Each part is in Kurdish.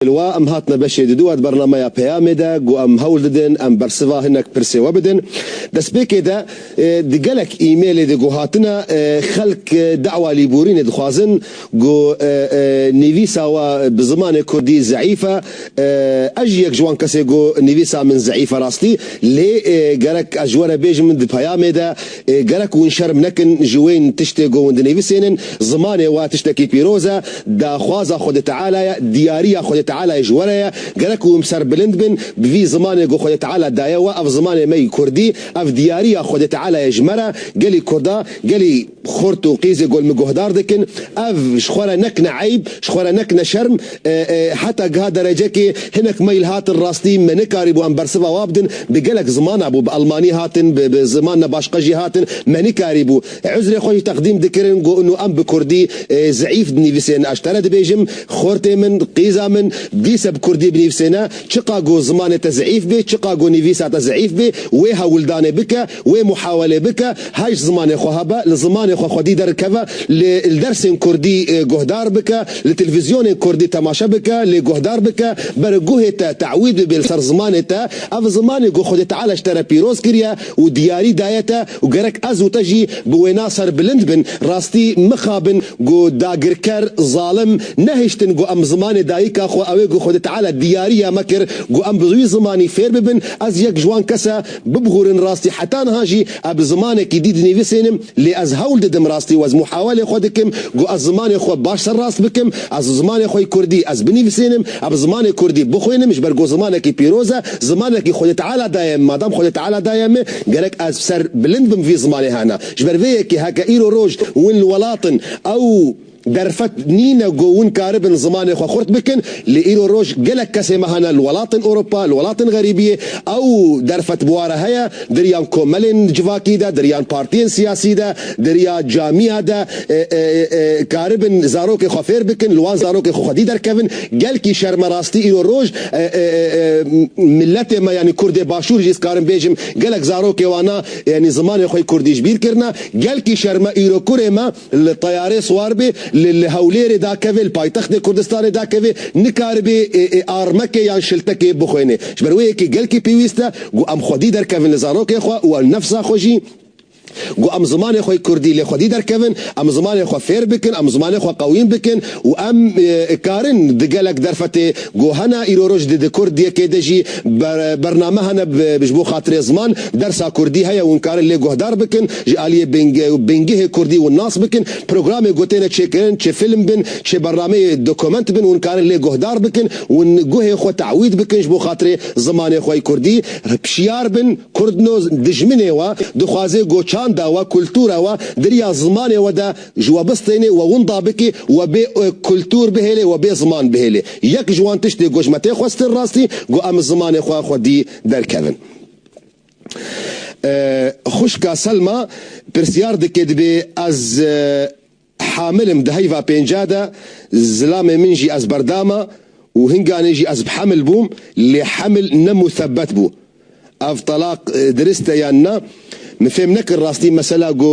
Li wa em hatine beşê di dua di bernameya Peyamê de ku em hewl didin em bersiva hinek pirsê we bidin. Destpêkê de di gelek e-mailê de ku hatine xelk dawa lêborînê dixwazin ku nivîsa we bi zimanê kurdî zeîf e. Ez jî yek ji wan kes e ku nivîsa min zeîf e rastî lê gerek ez ji we re bêjim di peyamê de Gerek hûn şerm nekin ji wê tiştê ku hûn dinivîsênin, zimanê we tiştekî pîroz e, daxwaza Xwedê Teala ye, diyariya Xwedê Tealayê ji were ye, gerek hûn bi ser bilind bin bi vî zimanê ku Xwedê Teala daye we, ev zimanê me yî Kurdî, ev diyariya Xwedê Tealayê ji me re, gelî Kurda, gelî xurt û qîzê gol min guhdar dikin, ev ji xwe re nekine eyb, ji xwe re nekine şerm. Heta giha derecekê hinek mail hatin rastî me nekarîbû em bersiva wa bidin bi gelek ziman hebû bi elmanî hatin bi bi ziman ne başqa jî hatin me nekarîbû uzrê xwe jî teqdîm dikirin got ino em bi kurdî zeîf dinîvisên eş tene dibêjim xortê min qîza min dîse bi kurdî binîvisêne çiqa got zimanê te zeîf bê çiqa got nîvîsa te zeîf bê wê hewildanê bike Wê muhawelê bike, hay ji zimanê xwe hebe, li zimanê xwe xwedî derikeve, lê li dersên kurdî guhdar bike, li televîzyonên kurdî temaşe bike, lê guhdar bike, beri guhê te te'wîd bibe li ser zimanê te. Ev zimanê ku Xwedê Teala ji te re pîroz kiriye û diyarî daye te û gerek ez û te jî bi wêna serbilind bin, rastî mixabin ku dagirker, zalim, nehiştin ku em zimanê dayika xwe, ew ê ku Xwedê Teala diyarî ya me kir ku em bi wî zimanî fêr bibin, ez yek ji wan kes e, Bibgûrin rastî heta niha jî e bi zimanekî dî dinivîsênim lê ez hewl didim rastî wez muhawelê xwe dikim ku ez zimanê xwe baş ser rast bikim ez zimanê xwe yî kurdî ez binivîsênim e bi zimanê kurdî bixwênim ji ber ku zimanekî pîroz e zimanekî xwedê teala daye min madam xwedê teala daye min gerek ez ser bilind bim vî zimanê hena ji ber vê yekê heke îro roj win li welat in ew Derfet nîne ku hûn karibin zimanê xwe xurt bikin, lê îro roj gelek kesê me hene li welatên Ewropa, li welatên xerîbiyê, ew derfet bûare heye, diriyan komelên civakî de, diriyan partiyên siyasî de, diriya camiya de, karibin zarokê xwe fêr bikin, li wan zarokê xwe xwedî derkevin. Gelkî şerme rastî îro roj miletê me yanî kurdê başûr jî ez karim bêjim gelek zarokê wana yanî zimanê xwe yê kurdî ji bîr kirine. Gelkî şerme îro kurê me. Li teyarê siwar bê, li li Hewlêrê dakeve, li paytextê Kurdistanê dakeve, nikaribe armekê yan şiltekê bixwêne. Ji ber wê yekê gelkî pêwîst e ku em xwedî derkevin li zarokê xwe û li nefsa xwe jî ku em zimanê xwe Kurdî lê xwedî derkevin, em zimanê xwe fêr bikin, em zimanê xwe qewîm bikin û em karin di gelek derfetê ku hene îro roj di di Kurd yekê de jî bername hene ji bo xatirê ziman dersa Kurdî heye û hûn karin lê guhdar bikin. Ji aliyê bingeh û bingehê kurdî hûn nas bikin, programê ku têne çêkirin, çi fîlm bin, çi berrameyê dokument bin hûn karin lê guhdar bikin, hûn guhê xwe te'wîd bikin ji bo xatirê zimanê xwe yê kurdî, hpşiyar bin, kurdno dijminê we, dixwazê goçanda we, kultura we, diriya zimanê we de ji we bistênê, we winda bikê, we bê kultur bihêlê, we bê ziman bihêlê. Yek ji wan tiştê ku ji me tê xwestin rastî, ku em zimanê xwe xwedî derkevin. Xwişka Selma pirsyar dike dibê ez hamil im di heyva pênca de zilamê min jî ez berdama û hinganê jî ez bi hemil bûm lê hemil ne musebet bû. Ev telaq dirist e yan na? Min fêm nekir rastî mesela ku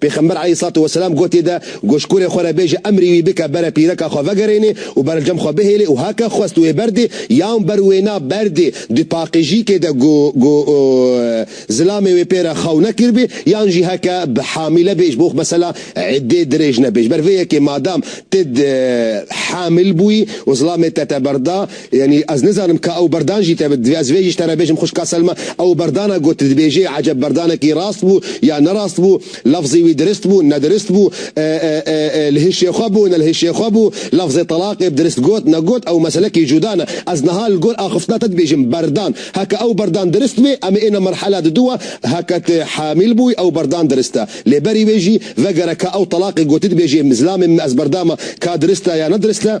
Pêxember aleyhîssalatu weselam gotê de goşkurê xwe re bêje emrî wî bike bere pîreka xwe vegerênê û berevcem xwe bihêlê û heke xwest wê berdê yan ber wêna berdê di paqijîkê de ku ku zilamê wê pê re xew nekiribê yan jî heke bi hamîle bê ji bo mesela îddê dirêj nebe. Ji ber vê yekê madam tu hamîl bûyî û zilamê te te berda, Yanî ez nizanim ka ew berdan jî tevit. Divê ez vê jî ji te re bêjim xwişka Selma, ew berdana ku tu dibêjî eceb berdanekî rast bû ya ne rast bû, lafzê wî dirist bû, ne dirist bû, li hişê xwe bû, ne li hişê xwe bû, lafzê telaqê bi dirist got, ne got, ew meselekî cuda ne. Ez niha li gor axiftina te dibêjim berdan. Heke ew berdan dirist bê, em ê êne merhela di du e, heke tu hamîl bûyî ew berdan dirist e. Lê berî wê jî vegere ka ew telaqê gotî dibêjê zilamê min ez berdama ka dirist e ya ne dirist e.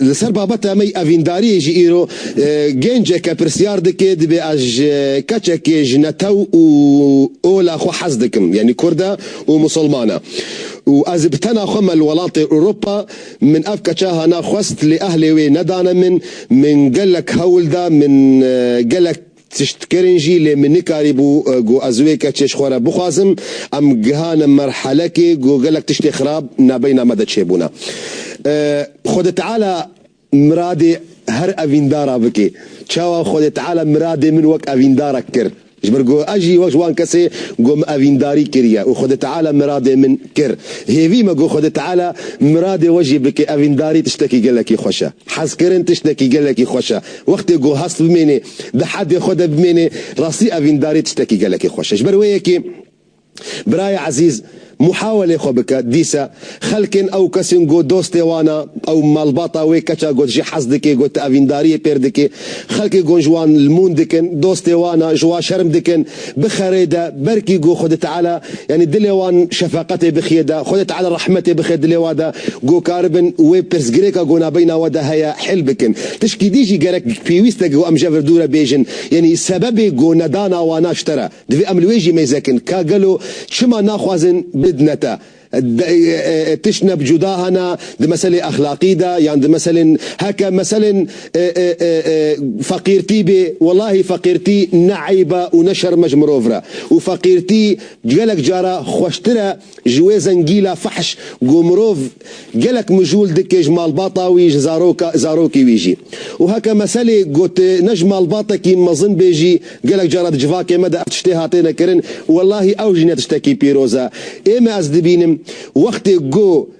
Li ser babeta me yî evîndariyê jî îro genceke pirsyar dike dibê ez ji keçekê ji netew û ola xwe hez dikim yanî kurd e û misilman e û ez ê bi tena xwe me li welatê Ewropa min ev keça hana xwest lê ehlê wê nedane min min gelek hewl da min gelek Tiştkirin jî lê min nikarîbû ku ez wê keçê ji xwe re bixwazim. Em gihane merhelekê ku gelek tiştê xirab nabeyna me de çêbûne. Xwedê Teala miradê her evîndara bike. Çawa Xwedê Teala miradê min wek evîndarek kir? Ji ber ku ez jî wek ji wan kesê ku em evîndarî kiriye û Xwedê Teala miradê min kir. Hêvî me ku Xwedê Teala miradê we jî bike. Evîndarî tiştekî gelekî xweş e. Hezkirin tiştekî gelekî xweş e. Wextê ku hest bimêne Di heldê xwe de bimênê rastî evîndarî tiştekî gelekî xweş e. Ji ber wê yekê birayê ezîz muhawelê xwe bike, dîse xelkên ew kesên got dostê wan a, ew malbata wê keça got jî hez dike, got evîndariyê pêr dike, xelkê got ji wan li mûn dikin, dostê wan a, ji wan şerm dikin. bixerê de berkî go Xwedê Teala yanî dilê wan şefeqetê bixiye de Xwedê Teala rehmetê bixe dilê wa de go karibin wê pirsgirêka go nabeyna we de heye hel bikin. Tişkî dî jî gerek pêwîst e go em je vir dûre bêjin yanî sebebê go nedana wana çi tere. Divê em li wê jî mêzekin ka gelo çima naxwazin bidne te. Tişt ne bi cuda hene di meselê exlaqî de yan di meselên heke meselên feqîrtî bê welahî feqîrtî ne eyb e û ne şerm e ji mirov re û feqîrtî gelek cara xweştir e ji wê zengîla fehş ku mirov gelek mijûl dike ji malbata wî ji zaroka zarokê wî jî û heke meselê ku tu ne ji malbatekî mezin bê jî Gelek caran di civakê me de ev tiştê hatêne kirin û wellahî ew jî ne tiştekî pîroz e. Ê me ez dibînim wextê ku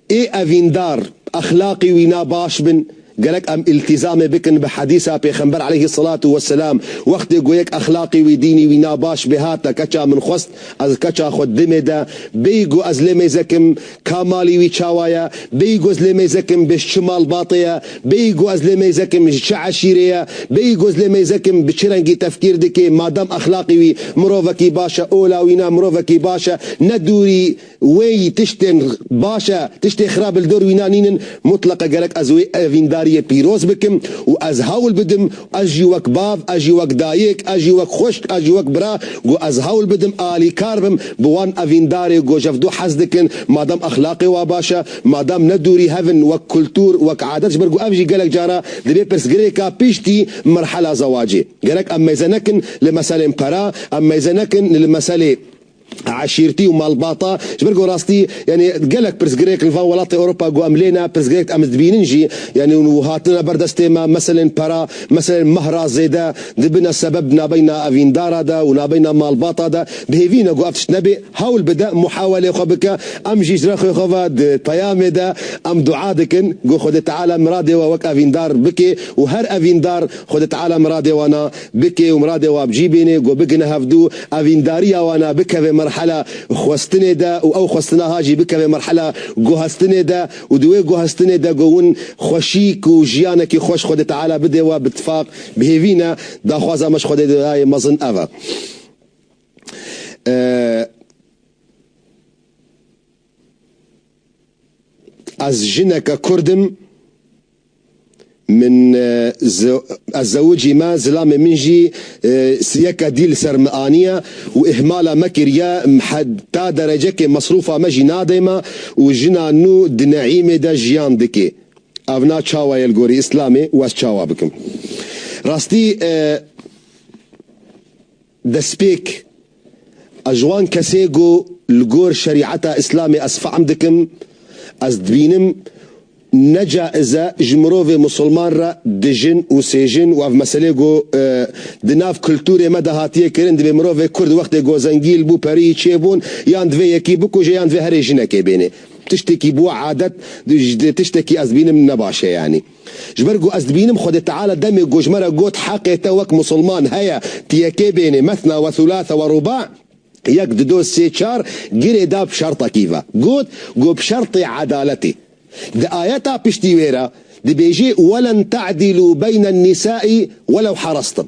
ê evîndar, exlaqî wîna baş bin, gerek em îltîzamê bikin bi hedîsa pêxember eleyhî selatû weselam, wextê ku yek exlaqî wî, dînî wî na baş bê hate keça min xwest ez keça xwe dimê de bêyî ku ez lê mêzekim, Ka malî wî çawa ye? Bêyî ku ez lê mêzek im bi ji çi malbatê ye? Bêyî ku ez lê mêzek im ji çi eşîrê ye? Bêyî ku ez lê mêzek im bi çi rengî tefkîr dike? Madem exlaqê wî mirovekî baş e, ola wî ne mirovekî baş e. Ne dûrî wê yî tiştên baş e, tiştê xirab li dor wî ne nînin. Mutleqa gerek ez wê evîndariyê pîroz bikim û ez hewl bidim Ez jî wek bav, ez jî wek dayik, ez jî wek xwişk, ez jî wek bira got ez hewl bidim alîkar bim bi wan evîndarê got ji ev du hez dikin madem exlaqê wan baş e, madem ne dûrî hev in wek kultûr, wek adet ji ber got ev jî gelek cara dibe pirsgirêka piştî merhela zewacê. Gerek em mêze nekin li meselên pera, em mêze nekin li meselê. eşîrtî û malbata. Ji ber ku rastî yanî gelek pirsgirêk li van welatê Ewropa ku em lê ne, pirsgirêk di em li dibînin jî yanî û hatin ne ber destê me, meselên pera, meselên meh ra zêde dibine sebeb nabeyna evîndara de û nabeyna malbata de. Bi hêvî ne ku ev tişt nebê. Hewl bide muhawelê xwe bike. Em jî ji rexê xwe ve di peyamê de em dua dikin ku Xwedê Teala miradê we wek evîndar bikê û her evîndar Xwedê Teala miradê wana Bike û miradê wan bicî bîne ku bigine hevdu, evîndariya wan a bikeve merhela xwestinê de û ew xwestina ha jî bikeve merhela guhestinê de û di wê guhestinê de ku hûn xweşîk û jiyanekî xweş Xwedê Teala bide wan bitifaq bihêvîne. Daxwaza me ji Xwedê Teala'yê mezin ev e. Ez jineke kurd im, min ez zewicî me, zilamê min jî siyeke dî li ser min aniye û îhmala me kiriye, heta derecekê mesrûfa me jî nade me û jina nû di neîmê de jiyan dike. Ev na çawa ye li gorî îslamê û ez çawa bikim? Rastî. Destpêk, Ez ji wan kesê ku li gor şerîeta îslamê ez fehm dikim, ez dibînim ne caiz e ji mirovê misilman re dijin û sêjin û ev meselê ku di nav kulturê me de hatiye kirin divê mirovê kurd wextê ku zengîl bû periyî çêbûn yan divê yekî bikuje yan divê herê jinekê bênê tiştekî bû adet tiştekî ez dibînim ne baş e yanî Ji ber ku ez dibînim Xwedê Teala demê ku ji me re got heqê te wek Musulman heye tu yekê bênê, Mesna ve Thulâthe ve Rûbâ, yek, du, do, sê, çar, girê da bi şertekî ve. Got ku bi şertê edaletê. Di ayeta piştî wê re dibêjê, Welen te'dîlû beyne nisâ'î welew harastn.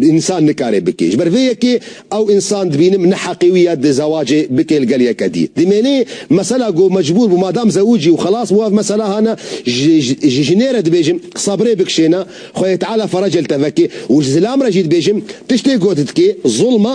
Însan nikare bike. Ji ber vê yekê ew însan dibînim ne heqê wî ye di zewacê bike li gel yeke dî. Dimênê mesela ku mecbûr bû madam zewicî û xelas bû ev mesela hane ji jinê re dibêjim sebrê bikişêne, Xwedê Teala ferecê li te veke û ji zilam re jî dibêjim tiştê ku tu dikê zulm e,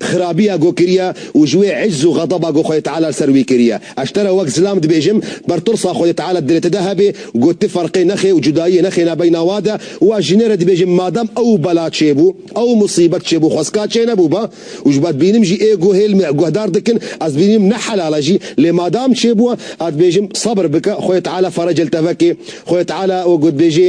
xirabiya ku kiriye û ji wê icz û xedeba ku Xwedê Teala li ser wî kiriye. Ez te re wek zilam dibêjim, ber tirsa Xwedê Teala di dilê te de hebe ku ti ferqê nexê û cudayiyê nexêne beyna we de û ez jinê re dibêjim madem ew bela çêbû, ew musîbet çêbû xwestka çênebû be û ji bedbînim jî ê guhêl me guhdar dikin, ez dibînim ne helal e jî lê madam çêbûye, ez dibêjim sebir bike Xwedê Teala fereca li te veke. Xwedê Teala wek ku dibêje.